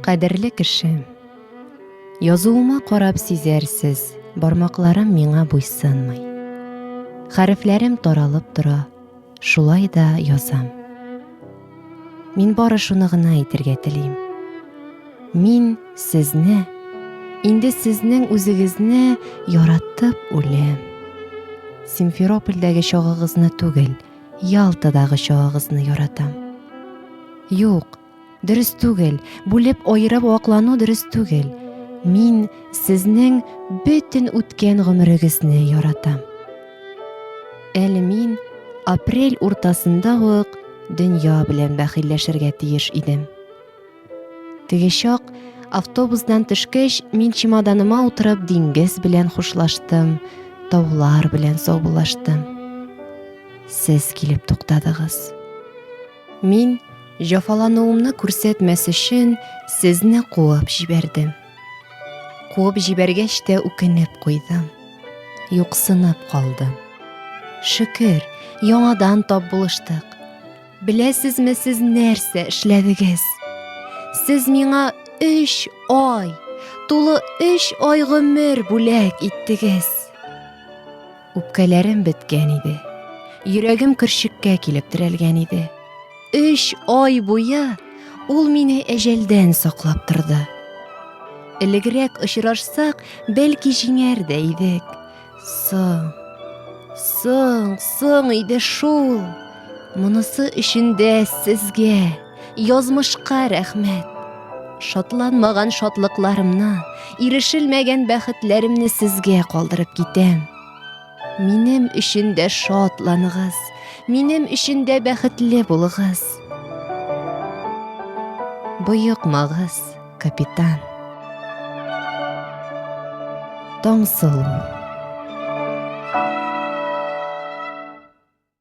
Кадерле кеше, язуыма карап сизәрсез, бармакларым миңа буйсынмый. Хәрефләрем таралып тора, Шулай да язам. Мин бары шуны гына әйтергә телим. Мин сезне, инде сезнең үзегезне яратып үләм. Симферопольдәге чагыгызны түгел, Ялтадагы чагыгызны яратам. Юк, Дөрес түгел, бүлеп аерып ваклану дөрес түгел. Мин сезнең бөтен үткән гомерегезне яратам. Әле мин апрель уртасында ук дөнья белән бәхилләшергә тиеш идем. Теге чак автобусдан төшкәч, мин чемоданыма утырып диңгез белән хушлаштым, таулар белән саубуллаштым. Сез килеп туктадыгыз. Мин, җафалануымны күрсәтмәс өчен, сезне куып җибәрдем. Куып җибәргәч тә үкенеп куйдым. Юксынып калдым. Шөкер, яңадан тап булыштык. Беләсезме сез нәрсә эшләдегез? Сез миңа өч ай, тулы өч ай гомер бүләк иттегез. Үпкәләрем беткән иде. Йөрәгем көрчеккә килеп терәлгән иде. Өч ай буе ул мине әҗәлдән саклап торды. Элегрәк очрашсак, бәлки җиңәр дә идек. Соң, соң, соң иде шул. Монысы өчен дә сезгә. язмышка рәхмәт. Шатланмаган шатлыкларымны, ирешелмәгән бәхетләремне сезгә калдырып китәм. Минем өчен дә шатланыгыз, минем өчен дә бәхетле булыгыз. Боекмагыз, капитан. Таңсылу.